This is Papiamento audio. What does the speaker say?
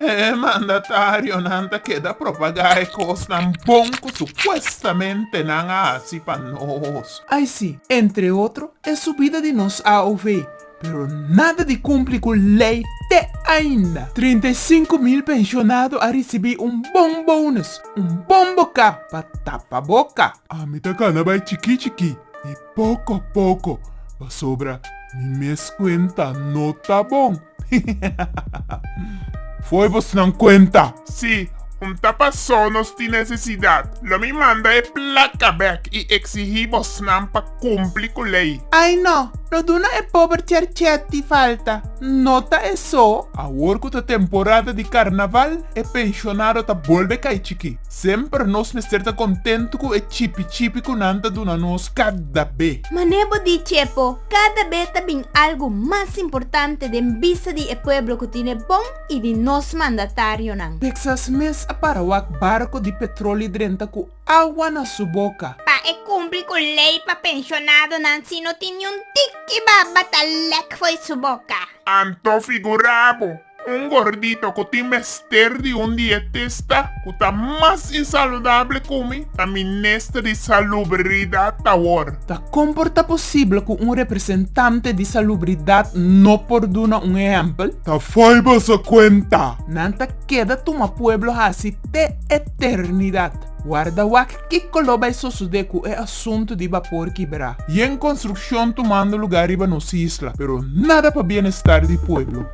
E mandatarionan ta keda propagá e kosnan bon ku supuestamente nan a hasi pa nos. Ai si, entre otro, e subida di nos AOV, pero nada di kumpli ku lei te ainda. Trinta i sinku mil penshonado a risibí un bon bonus, un bon boká pa tapa boka. Ami ta kana bai chikí chikí. Poko poko, pasobra mi mes kuenta no ta bon. Foi bosnan kuenta! Sí, un ta pasó nos tin necesidad. Lo mi manda e placa bek y exigí bosnan pa cumpli cu ley. Ay no, no duna e pober cherchet di falta, no ta eso? Awor cu ta temporada di carnaval, e pensionado ta bolbe cay chiki. Semper nos mester ta kontentu ku e chipi chipi ku nan ta duna nos kada be. Manera bo di Chepo, kada be ta bin algu mas importante den bista di e pueblo ku tin e bon i di nos mandatarionan. Texas mes a para wak barko di petroli drenta ku awa na su boka. Pa e kumpli ku lei pa penshonadonan si no tin niun tiki baba ta lek fo'i su boka. Anto figurabo! Un gordito ku tin mester di un dietista ku ta mas insaludabel ku mi ta minister di Salubridad awor. Ta kon por ta posibel ku un representante di Salubridad no por duna un ehèmpel? Ta fo'i boso kuenta! Nan ta keda tuma pueblo hasi te eternidad. Warda wak kiko lo bai sosodé ku e asuntu di bapor kibrá. Yen konstrukshon tumando lugá riba nos isla, pero nada pa bienestar di pueblo.